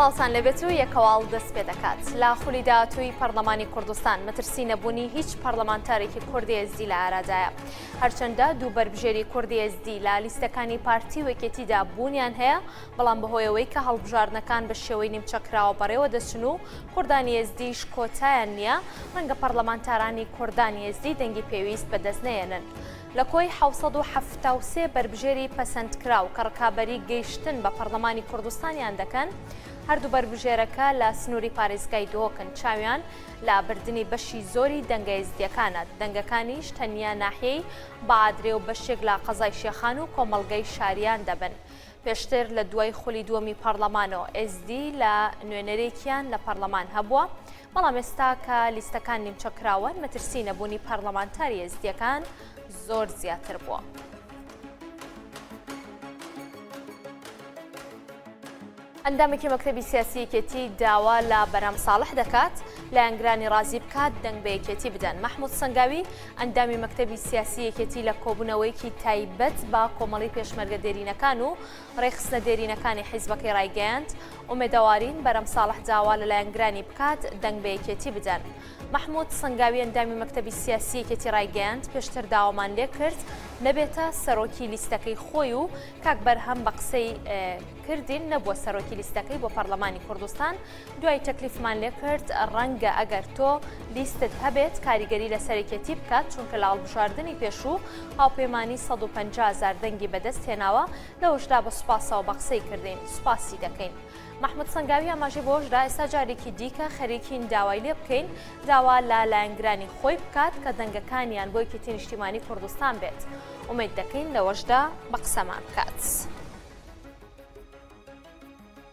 پاڵتان لەبێت و یەکەواڵ دەست پێ دەکات لە خولی داهاتووی پەرلەمانی کوردستان مەترسی نەبوونی هیچ پەرلەمانتارێکی کوردی ئێزدی لە ئارادایە هەرچەندە دوو بەربژێری کوردی ئێزدی لە لیستەکانی پارتی وەکێتیدا بوونیان هەیە بەڵام بەهۆی ئەوەی کە هەڵبژاردنەکان بە شێوەی نیمچەکراوە بەڕێوە دەچن و کوردانی ئێزدیش کۆتایان نییە، ڕەنگە پەڕلەمانتارانی کوردانی ئێزدی دەنگی پێویست بەدەست نەیەنن. لە کۆی حەوت سەد و حەفتا و سێ بەربژێری پەسەندکراو کە ڕکابەری گەیشتن بە پەڕلەمانی کوردستانیان دەکەن، هەردوو بەربژێرەکە لە سنووری پارێزگای دهۆکن، چاویان لە بردنی بەشی زۆری دەنگە ئێزدییەکانە، دەنگەکانیش تەنیا ناحیەی بەعادرێ و بەشێک لە قەزای شێخان و کۆمەڵگەی شاریان دەبن. پێشتر لە دوای خولی دووەمی پارلەمانۆ ئێزدی لە نوێنەرێکیان لە پارلەمان هەبووە بەڵام ئێستا کە لیستەکان نیمچە کراوەن مەترسی نەبوونی پارلەمانتاری ئێزدیەکان زۆر زیاتر بووە. ئەندامێکی مەکتتەبی سیاسی یەکێتی داوا لە بەرام ساڵح دەکات لایەنگرانی ڕازی بکات دەنگ بە یەکێتی بدەن مححمود سنگاوی ئەندامی مەکتەبی سیاسی یەکێتی لە کۆبوونەوەیەکی تایبەت بە کۆمەڵی پێشمەرگە دێرینەکان و ڕێکخستنە دێرینەکانی حیزبەکەی ڕایگەیاند، ئومێدەوارین بەرەم ساڵح داوا لە لایەنگرانی بکات دەنگ بە یەکێتی بدەن. مەحمود سەنگاوی ئەندامی مەکتەبی سیاسی یەکێتی ڕایگەیاند، پێشتر داوامان لێکرد نەبێتە سەرۆکی لیستەکەی خۆی و کاک بەرهەم بە قسەی کردین نەبووە سەرۆکی لیستەکەی بۆ پەرلەمانی کوردستان، دوای تەکلیفمان لێ کرد ڕەنگە ئەگەر تۆ لیستت هەبێت کاریگەری لە سەرەکێتی بکات چونکە لە هەڵبژاردنی پێشوو هاوپەیمانی 150 هەزار دەنگی بەدەست هێناوە لەوەشدا بە سوپاسەوە بە قسەی کردین سوپاسی دەکەین مححمود سنگاوی ئاماژی بۆشدا ئێستا جارێکی دیکە خەریکین داوای لێ بکەین داوا لە لایەنگرانی خۆی بکات کە دەنگەکانیان بۆ یەکێتی نیشتیمانی کوردستان بێت ئومێد دەکەین لەوەشدا بە قسەمان بکات.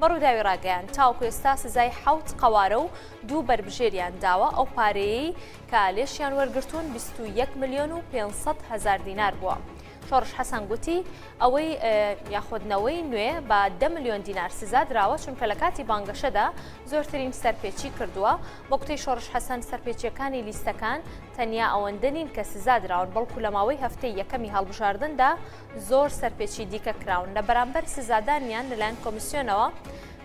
بە رووداوی راگەیاند، تاوەکو ئێستا سزای حەوت قەوارە و دوو بەربژێریان داوە، ئەو پارەیەی کە لێشیان وەرگرتوون بیست و یەک ملیۆن و پێنج سەد هەزار دینار بووە. شۆڕش حەسەن گوتی، ئەوەی یاخود نەوەی نوێ بە دە ملیۆن دینار سزا دراوە، چونکە لە کاتی بانگەشەدا زۆرترین سەرپێچی کردووە. بە گوتەی شۆڕش حەسەن، سەرپێچییەکانی لیستەکان تەنیا ئەوەندە نین کە سزا دراون، بەڵکو لە ماوەی هەفتەی یەکەمی هەڵبژاردندا زۆر سەرپێچی دیکە کراون لە بەرامبەر سزادانیان لەلایەن کۆمیسیۆنەوە،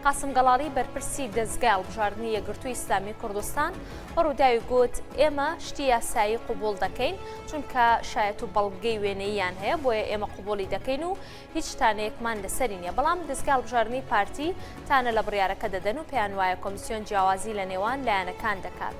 قاسم گەڵاڵی بەرپرسی دەزگای هەڵبژاردنی یەکگرتووی ئیسلامی کوردستان بە رووداوی گوت، ئێمە شتی یاسایی قبوڵ دەکەین، چونکە شایەت و بەڵگەی وێنەییان هەیە، بۆیە ئێمە قبوڵی دەکەین و هیچ تانەیەکمان لەسەری نییە، بەڵام دەزگای هەڵبژاردنی پارتی تانە لە بڕیارەکە دەدەن و پێیانوایە کۆمیسیۆن جیاوازی لەنێوان لایەنەکان دەکات.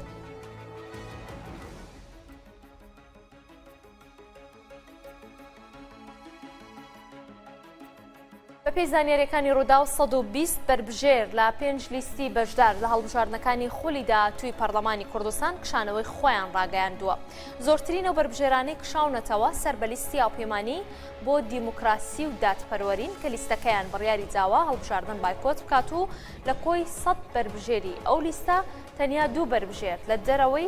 بەپێی زانیاریەکانی ڕووداو 120 بەربژێر لە پێنج لیستی بەشدار لە هەڵبژاردنەکانی خولی داهاتووی پەرلەمانی کوردستان کشانەوەی خۆیان ڕاگەیاندووە زۆرترین و بەربژێرانەی کشاونەتەوە سەر بە لیستی هاوپەیمانی بۆ دیموکراسی و دادپەروەرین کە لیستەکەیان بڕیاری داوا هەڵبژاردن بایکۆت بکات و لە کۆی 100 بەربژێری ئەو لیستە تەنیا دوو بەربژێر لە دەرەوەی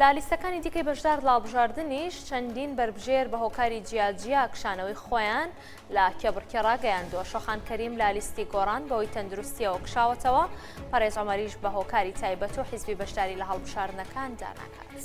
لە لیستەکانی دیکەی بەشدار لە هەڵبژاردنیش چەندین بەربژێر بە هۆکاری جیاجیا کشانەوەی خۆیان لە کێبڕکێ ڕاگەیاندووە شۆخان کەریم لە لیستی گۆڕان بەوەی تەندروستیەوە کشاوەتەوە پەرێز ئەمەریش بە هۆکاری تایبەت و حیزبی بەشداری لە هەڵبژاردنەکاندا ناکات.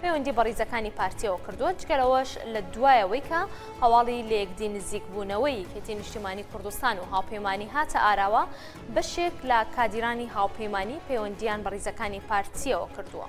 پەیوەندی بە ڕیزەکانی پارتییەوە کردووە، جگە لەوەش لە دوایەوەی کە هەواڵی لەیەکدی نزیکبوونەوەی یەکێتی نیشتیمانی کوردستان و هاوپەیمانی هاتە ئاراوە، بەشێک لە کادیرانی هاوپەیمانی پەیوەندییان بە ڕیزەکانی پارتییەوە کردووە.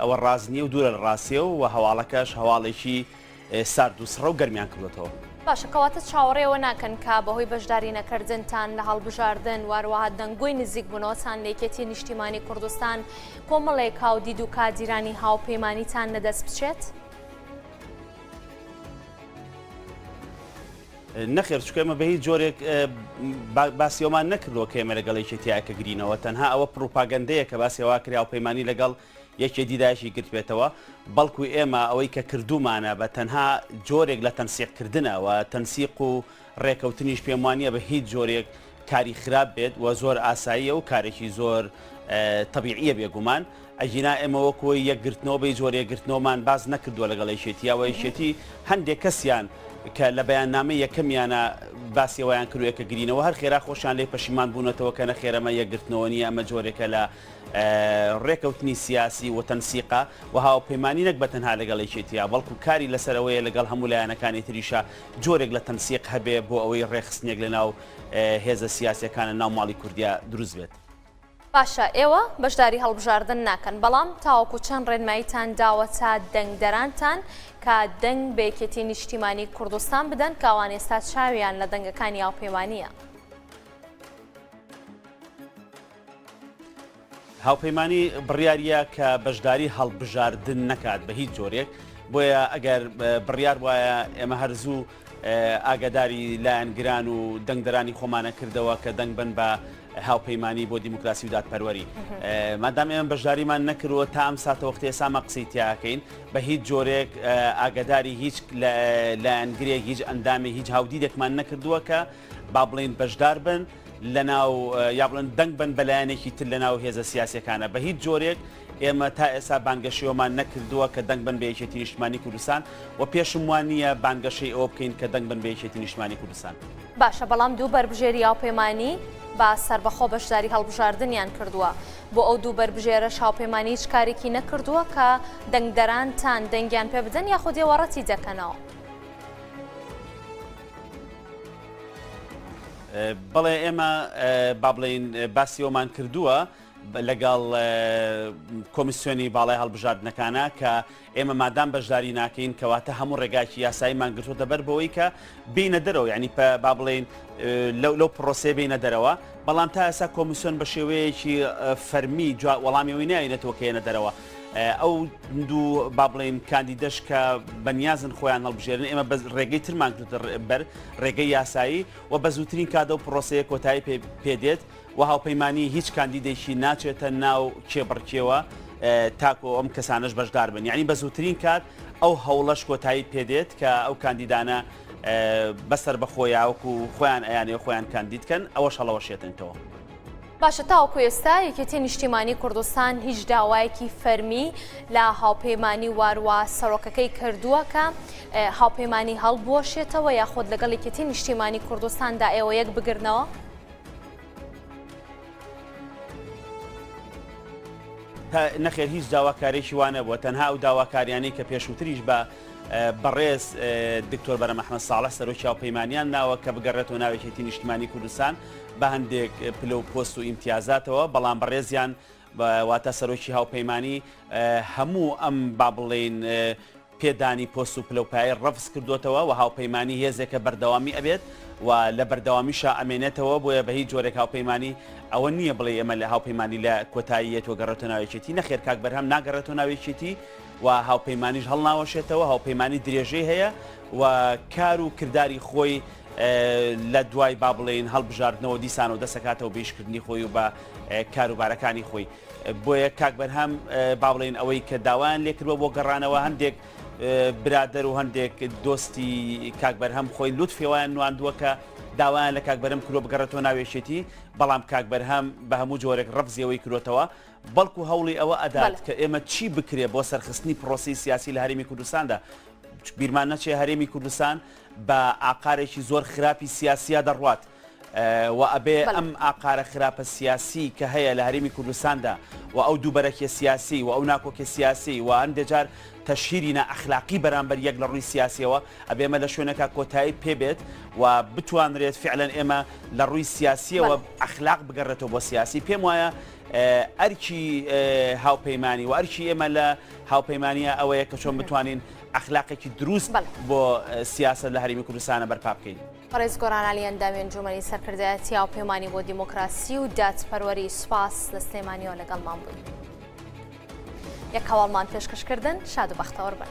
ئەوە ڕاست نییە و دوورە لە ڕاستیی و وە هەواڵەکەش هەواڵێکی سارد و سڕە و گەرمیان کردۆتەوە. باشە کەواتە چاوەڕێ ئەوە ناکەن کە بەهۆی بەشداری نەکەردنتان لە هەڵبژاردن واروەها دەنگۆی نزیک بونەوەتان لە یەکێتی نیشتیمانی کوردستان کۆمەڵێک هاودید و کادیرانی هاوپەیمانیتان لەدەست بچێت؟ نەخێر چکە ئێمە بە هیچ جۆرێک باسی ئەومان نەکردەوە کە ئێمە لەگەڵ یەکێتی یاکە گرینەوە تەنها ئەوە پروپاگەندەیە کە باسی هەوا کرا و پەیمانانی لەگەڵ یەکێ دیداشی گرتبێتەوە بەڵکو ئێمە ئەوەی کە کردومانە بە تەنها جۆرێک لە تەنسیقکردنەوە تەنسیق و ڕێکەوتنیش پێم وانە بە هیچ جۆرێک کاری خراپ بێت وە زۆر ئاساییە و کارێکی زۆر تەبیعیە بێگومان ئەگینا ئێمە وەکۆی یەکگرتنەوە بەی زۆر یەکگرتنەوەمان باز نەکردووە لەگەڵ یەکێتیەوە یەکێتی هەندێک کەسیان کە لە بەیاننامە یەکەمیانە باسیەوەیان کروێ کە گرینەوە هەر خێرا خۆشان لێ پەشیمان بوونەتەوە کە نەخێرەمە یەکگرتنەوە نیە ئەمە جۆرێکە لە ڕێکەوتنی سیاسی و تەنسیقا و هاوپەیمانانی نەک بە تەنها لەگەڵ یەکێتیە بەڵکو کاری لەسەرەوەیە لەگەڵ هەموو لایەنەکانی تریشە جۆرێک لە تەنسیق هەبێ بۆ ئەوەی ڕێکخستنێک لە ناو هێزە سیاسیەکانە ناو ماڵی کوردیا دروست بێت. باشە ئێوە بەشداری هەڵبژاردن ناکەن بەڵام تاوەکو چەند ڕێنماییتان داوەتە دەنگدەرانتان کە دەنگ بە یەکێتی نیشتیمانی کوردستان بدەن کە ئەوان ئێستا چاویان لە دەنگەکانی هاوپەیمانییە؟ هاوپەیمانی بڕیاریە کە بەشداری هەڵبژاردن نەکات بە هیچ جۆرێک بۆیە ئەگەر بڕیار وایە ئێمە هەرزوو ئاگداری لایەنگران و دەنگدرانی خۆمانە کردەوە کە دەنگ بن بە هاوپەیمانی بۆ دیموکراسی و دادپەروەری مادام ئێمە بەشداریمان نەکردوە تا ئەم ساتەوەختی سامە قسەی تیاکەین بە هیچ جۆرێک ئاگداری هیچ لایەنگرێک هیچ ئەندامی هیچ هاودیدێکمان نەکردووە کە با بڵێین بەشدار بن لەناو یا بڵێن دەنگ بن بە لایەنێکی تر لەناو هێزە سیاسەکانە بە هیچ جۆرێک ئێمە تا ئێستا بانگەشەوەمان نەکردووە کە دەنگ بن بە یەکێتی نیشتمانی کوردستان و پێشم وان نییە بانگەشەی ئەوە بکەین کە دەنگ بن بە یەکێتی نیشتمانی کوردستان باشە بەڵام دوو بەربژێری هاوپەیمانی با سەربەخۆ بەشداری هەڵبژاردنیان کردووە بۆ ئەو دوو بەربژێرە هاوپەیمانی هیچ کارێکی نەکردووە کە دەنگدەرانتان دەنگیان پێ بدەن یاخودێوەڕەتی دەکەنەوە. بەڵێ ئێمە با بڵێین باسی ئەومان کردووە لەگەڵ کۆمیسیۆنی باڵای هەڵبژاردنەکانە کە ئێمە مادام بەشداری ناکەین کەواتە هەموو ڕێگاکی یاساییمان گرتوتە بەر بەوەی کە بینە دەرەوە ینی با بڵێن لەو لەو پرۆسێ بینە دەرەوە بەڵام تا ئێسا کۆمیسیۆن بە شێوەیەکی فەرمی وەڵامی وی ناوینەتەوە کێنە دەرەوە ئەو دوو با بڵێین کاندیدەش کە بەنیازن خۆیان هەڵبژێرن ئێمە بە ڕێگەی ترمان کردە بەر ڕێگەی یاسایی و بە زووترین کادە و پرۆسەیە کۆتایی پێدێت و هاوپەیمانانی هیچ کاندیدێکی ناچێتە ناو کێبڕکێوە تاکۆ ئەم کەسانش بەشدار بن یعنی بە زووترین کات ئەو هەوڵەش کۆتایی پێدێت کە ئەو کاندیدانە بەسەر بەخۆیاوەکو خۆیان ئەیانێ خۆیان کاندیدکەن ئەوەش هەڵەوەشێتنەوە. باشە تاوەکو ئێستا یەکێتی نیشتیمانی کوردستان هیچ داوایەکی فەرمی لە هاوپەیمانی واروا سەرۆکەکەی کردووە کە هاوپەیمانی هەڵبوەشێتەوە یاخود لەگەڵ یەکێتی نیشتیمانی کوردستاندا ئێوە یەک بگرنەوە؟ نەخێر هیچ داواکارێکی وانە بووە تەنها ئەو داواکاریانەی کە پێشووتریش بە بەڕێز دکتۆر بەرە مححمە ساڵە سەرۆکی و پەیمانیان ناوە کە بگەڕێتەوە ناوێکێتی نیشتمانی کوردستان بە هەندێک پلە و پۆست و ئیمتیازاتەوە بەڵام بەڕێزیان واتە سەرۆکی هاوپەیمانانی هەموو ئەم با بڵێین پێدانی پۆست و پلەپای ڕفز کردوێتەوە و هاوپەیمانانی هێزێکە بەردەوامی ئەبێت و لە بەردەوامیشە ئەمێنێتەوە بۆیە بە هیچ جۆرێک هاوپەیمانانی ئەوە نییە بڵێ ئەمە لە هاوپەیمانانی لە کۆتاییەت و گەڕێتە ناوێکێتی نەخێر کاک بەرهەم ناگەڕێتە ناوێکێتی و هاوپەیمانانیش هەڵناوەشێتەوە هاوپەیمانانی درێژەی هەیە و کار و کردداری خۆی لە دوای با بڵێین هەڵبژاردنەوە دیسانەوە دەسەکاتەوە بەیشکردنی خۆی و بە کاروبارەکانی خۆی بۆیە کاک بەرهەم با بڵێن ئەوەی کە داوایان لێکردوە بۆ گەڕانەوە هەندێک برادەر و هەندێک دۆستی کاک بەرهەم خۆی لوت فێوایان نواندووە کە داوایان لە کاک بەرم کرۆ بگەڕێتەوە ناوێشێتی بەڵام کاک بەرهەم بە هەموو جۆرێک ڕفزیەوەی کرۆتەوە بەڵکو هەوڵی ئەوە ئەدات کە ئێمە چی بکرێ بۆ سەرخستنی پرۆسی سیاسی لە هەرمی کوردستاندا بیرمان نەچێ هەرێمی کوردستان بە ئاقارێکی زۆر خراپی سیاسیە دەڕوات و ئەبێ ئەم ئاقارە خراپە سیاسی کە هەیە لە هەرێمی کوردستاندا و ئەو دووبەرەکیە سیاسی و ئەو ناکۆکیە سیاسی و هەندێ جار تەشهیری نائەخلاقی بەرامبەر یەک لە ڕووی سیاسیەوە ئەبێ ئێمە لە شوێنەکە کۆتایی پێبێت و بتوانرێت فعلەن ئێمە لە ڕووی سیاسیەوە ئەخلاق بگەڕێتەوە بۆ سیاسی پێم وایە ئەرکی هاوپەیمانی و ئەرکی ئێمە لە هاوپەیمانە ئەوەیە کە چۆن بتوانین ئەخلاقێکی دروست بۆ سیاسەت لە هەرێمی کوردستانە بەرپا بکەین. بەڕێز گۆران عەلی ئەندامی ئەنجوومەنی سەرکردایەتی هاوپەیمانی بۆ دیموکراسی و دادپەروەری، سوپاس لە سلێمانییەوە لەگەڵمان بووی. یەک هەواڵمان پێشکەشکردن شاد و بەختەوەر بن.